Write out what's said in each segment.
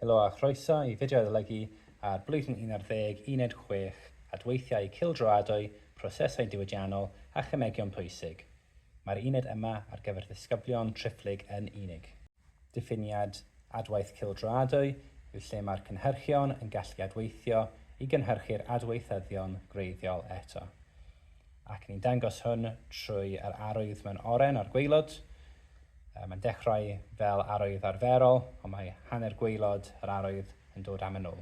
Helo a chroeso i fideo adolygu ar Blwyddyn un ar ddeg Uned chwech, Adweithiau Cylldroadwy, Prosesau Diwydiannol a Chymegion Pwysig. Mae'r uned yma ar gyfer ddisgyblion triphlyg yn unig. Diffiniad, Adwaith cylldroadwy yw lle mae'r cynhyrchion yn gallu adweithio i gynhyrchu'r adweithyddion gwreiddiol eto. Ac ni'n dangos hwn trwy yr arwydd mewn oren ar gwaelod. Mae'n dechrau fel arwydd arferol, ond mae hanner gwaelod yr arwydd yn dod am yn ôl.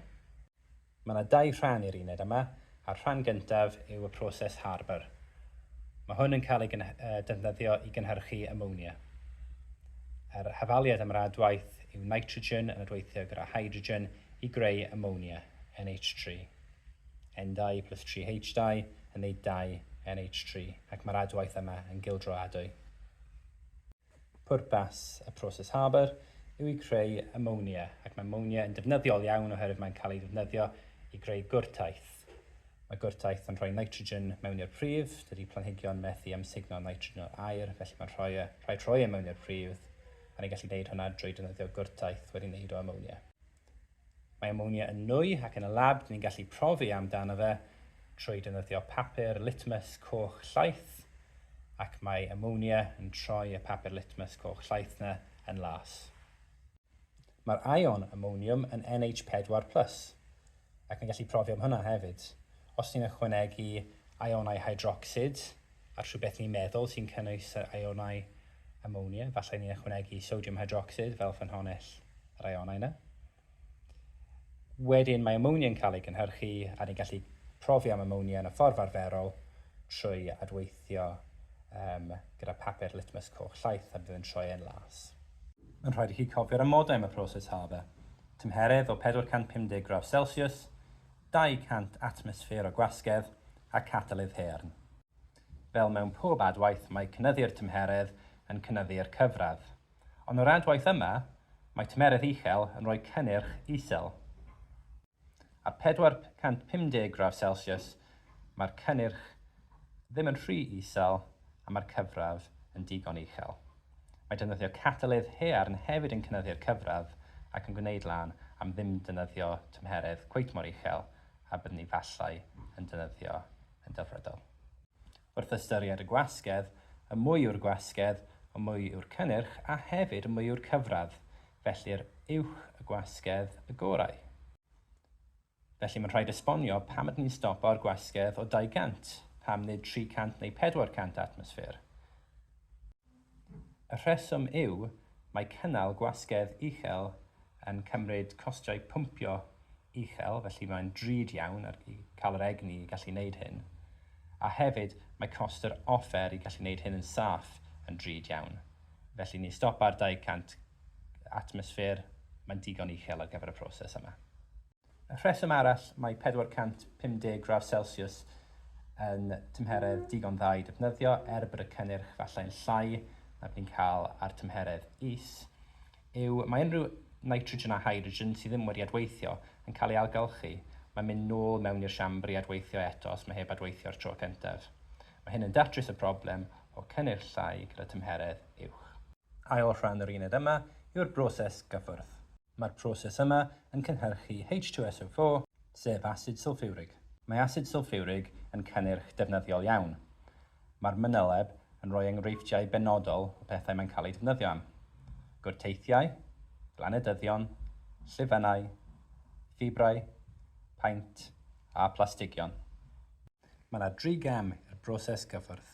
Mae yna dau rhan i'r uned yma, a'r rhan gyntaf yw y proses Haber. Mae hwn yn cael ei defnyddio i gynhyrchu amonia. Yr hafaliad am yr adwaith yw nitrogen yn adweithio gyda hydrogen i greu amonia, NH3. N2 plus 3H2 yn wneud 2 NH3 ac mae'r adwaith yma yn gildroadwy. Pwrpas y proses Haber yw i creu amonia ac mae amonia yn defnyddiol iawn oherwydd mae'n cael ei ddefnyddio i greu gwrtaith. Mae gwrtaith yn rhoi nitrogen mewn i'r pridd, dydy planhigion methu amsugno nitrogen o'r aer felly mae'n rhoi e, rhaid rhoi e mewn i'r pridd a ni'n gallu gwneud hwnna drwy defnyddio gwrtaith wedi wneud o amonia. Mae amonia yn nwy ac yn y lab dyn ni'n gallu profi amdano fe trwy defnyddio papur litmus coch llaeth ac mae amonia yn troi y papur litmus coch llaeth 'na yn las. Mae'r ion amoniwm yn NH4 plus ac yn gallu profi am hwnna hefyd. Os ni'n ychwanegu ionau hydrocsid Ar rhywbeth ni'n meddwl sy'n cynnwys yr ionau amonia, efallai ni'n ychwanegu sodiwm hydrocsid fel ffynhonnell yr ionau yna. Wedyn mae amonia yn cael ei gynhyrchu a ni'n gallu profi am amonia yn y ffordd arferol trwy adweithio um, gyda papur litmus coch llaeth a bydd yn troi e'n las. Mae'n rhaid i chi cofio'r amodau am y proses HABA, tymheredd o 450 gradd Celsius, 200 atmosffer o gwasgedd a Catalydd Haearn. Fel mewn pob adwaith mae cynyddu'r tymheredd yn cynyddu'r cyfradd. Ond o'r adwaith yma, mae tymeredd uchel yn rhoi cynnyrch isel. Ar 450 gradd Celsius mae'r cynnyrch ddim yn rhy isel a mae'r cyfradd yn digon uchel. Mae defnyddio catalydd haearn hefyd yn cynyddu'r cyfradd ac yn gwneud lan am ddim defnyddio tymheredd cweit mor uchel a byddwn ni efallai yn defnyddio yn delfrydol. Wrth ystyried y gwasgedd, y mwy yw'r gwasgedd, y mwy yw'r cynnyrch a hefyd y mwy yw'r cyfradd, felly'r uwch y gwasgedd, y gorau. Felly mae'n rhaid esbonio pam ydyn ni'n stopo'r gwasgedd o 200, pam nid 300 neu 400 atmosffer. Y rheswm yw, mae cynnal gwasgedd uchel yn cymryd costiau pwmpio uchel, felly mae'n drud iawn ar cael yr egni i gallu wneud hyn, a hefyd mae cost yr offer i gallu wneud hyn yn saff yn drud iawn, felly ni stopa'r 200 atmosffer, mae'n digon uchel ar gyfer y proses yma. Rheswm arall, mae 450 gradd celsiws yn tymheredd digon dda i ddefnyddio, er bod y cynnyrch fallai'n llai na byddi'n cael ar dymheredd is, yw mae unrhyw nitrogen a hydrogen sydd ddim wedi adweithio yn cael ei ailgylchu, mae'n mynd nôl mewn i'r siambr i adweithio eto os mae heb adweithio o'r tro cyntaf. Mae hyn yn datrys y broblem o cynnyrch llai gyda tymheredd uwch. Ail rhan yr uned yma yw'r broses gyffwrdd. Mae'r proses yma yn cynhyrchu H2SO4, sef asid sylffiwrig. Mae asid sylffiwrig yn cynnyrch defnyddiol iawn. Mae'r mynyleb yn rhoi enghreifftiau benodol o bethau mae'n cael eu defnyddio am, gwrteithiau, glanedyddion, llifynnau, ffibrau, paent a phlastigion. Mae yna dri gam i'r broses gyffwrdd.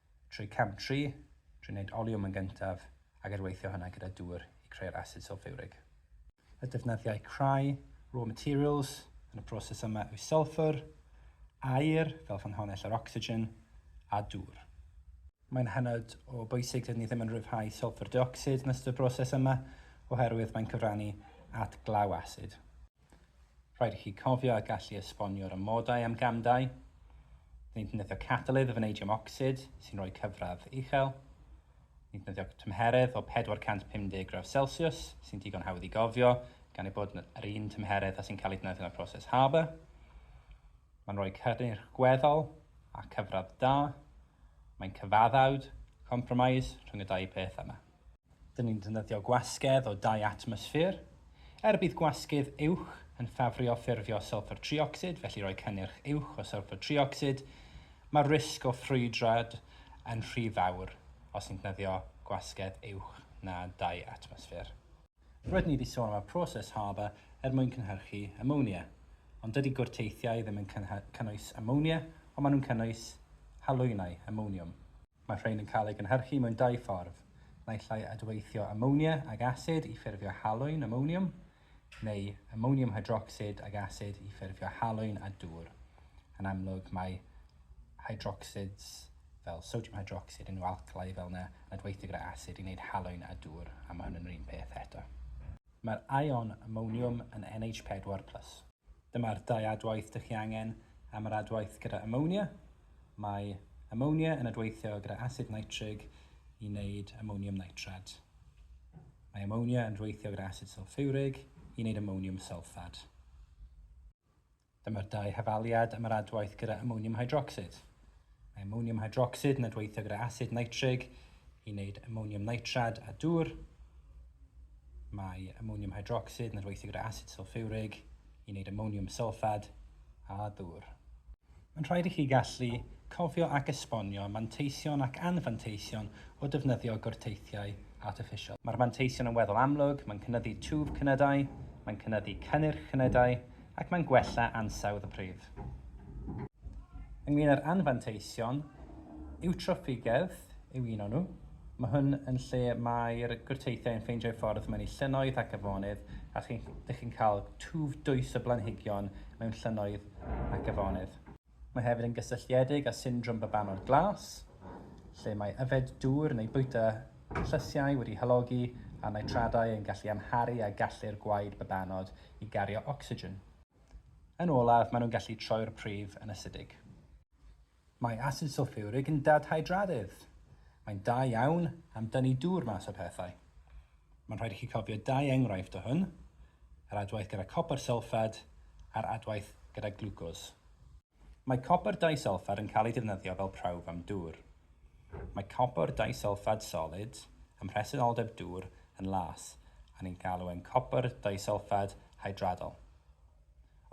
Trwy cam tri, drwy wneud oliwm yn gyntaf ac er weithio hynna gyda dŵr i creu'r asid sylffiwrig. Y defnyddiau crai, raw materials, yn y broses yma yw sylffwr, aer, fel ffynhonnell yr ocsigen, a dŵr. Mae'n hynod o bwysig dydyn ni ddim yn rhyddhau sylffwr deuocsid yn ystod y broses yma oherwydd mae'n cyfrannu at glaw asid. Rhaid i chi cofio a gallu esbonio'r amodau am gamdau, nid ddefnyddio catalydd o faneidiwm ocsid sy'n rhoi cyfradd uchel, nid ddefnyddio tymheredd o 450 gradd Celsius sy'n digon hawdd i gofio gan ei bod yr un tymheredd â sy'n cael ei ddefnyddio yn y proses Haber. Mae'n rhoi cynnyrch gweddol a chyfradd da. Mae'n cyfaddawd, compromise, rhwng y dau peth yma. Dyn ni'n defnyddio gwasgedd o dai atmosffer. Er bydd gwasgydd uwch yn ffafrio ffurfio sylffr triocsid, felly rhoi cynnyrch uwch o sylffr triocsid, mae'r risg o ffrwydrad yn rhy fawr os ni'n defnyddio gwasgedd uwch na dai atmosffer. Rydyn ni wedi sôn am y proses Haber er mwyn cynhyrchu amonia, ond dydy gwrteithiau ddim yn cynnwys amonia, ond maen nhw'n cynnwys halwynnau, amoniwm. Mae'r rhain yn cael eu gynhyrchu mewn dau ffordd, naill ai adweithio amonia ag asid i ffurfio halwyn amoniwm, neu amoniwm hydrocsid ag asid i ffurfio halwyn a dŵr. Yn amlwg, mae hydrocsids, fel sodiwm hydrocsid, yn alcalau fel yna yn adweithio gyda asid i wneud halwyn a dŵr, a mae hwn yn yr un peth eto. Mae'r ion amoniwm yn NH4 plus. Dyma'r dau adwaith dych chi angen am yr adwaith gyda amonia. Mae amonia yn adweithio gyda asid nitrig i wneud amoniwm nitrad. Mae amonia yn adweithio gyda asid sylffurig i wneud amoniwm sylffad. Dyma'r dau hafaliad am yr adwaith gyda amoniwm hydrocsid. Amoniwm hydrocsid yn adweithio gyda asid nitrig i wneud amoniwm nitrad a dŵr. Mae amoniwm hydrocsid yn adweithio gyda asid sylffurig i wneud amoniwm sylffad a dŵr. Mae'n rhaid i chi gallu cofio ac esbonio manteision ac anfanteision o defnyddio gwrteithiau artiffisial. Mae'r manteision yn weddol amlwg, mae'n cynyddu twf cnydau, mae'n cynyddu cynnyrch cnydau, ac mae'n gwella ansawdd y pridd. Ynglŷn â'r anfanteision, Eutroffigedd yw un o'n nhw. Mae hwn yn lle mae'r gwrteithiau yn ffeindio'u ffordd mewn i llynnoedd ac afonydd a dych chi'n cael twf dwys o blanhigion mewn llynnoedd ac afonydd. Mae hefyd yn gysylltiedig â syndrom babanod glas, lle mae yfed dŵr neu bwyta llysiau wedi halogi â nitradau yn gallu amharu ar gallu'r gwaed babanod i gario ocsigen. Yn olaf, maen nhw'n gallu troi'r pridd yn asidig. Mae asid sylffiwrig yn dadhydradydd. Mae'n da iawn am dynnu dŵr mas o pethau. Mae'n rhaid i chi cofio dau enghraifft o hwn, yr adwaith gyda copr sylffad a'r adwaith gyda glwcos. Mae copr disylffad yn cael ei defnyddio fel prawf am dŵr. Mae copr disylffad solid ym mhresenoldeb dŵr yn las a ni'n galw e'n copr disylffad hydradol.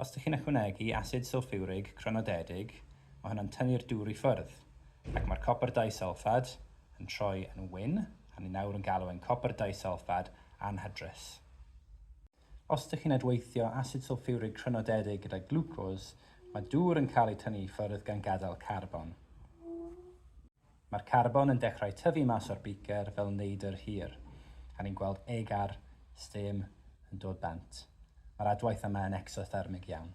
Os dych chi'n ychwanegu asid sylffiwrig crynodedig, mae hwn yn tynnu'r dŵr i ffwrdd, ac mae'r copr disulffad yn troi yn wyn, a ni nawr yn galw e'n copr disulffad anhydrus. Os dych chi'n adweithio asid sylffiwrig crynodedig gyda glwcos, mae dŵr yn cael ei tynnu i ffwrdd gan gadael carbon. Mae'r carbon yn dechrau tyfu mas o'r beaker fel neidr hir, a ni'n gweld egar, steam, yn dod bant. Mae'r adwaith yma yn exothermig iawn.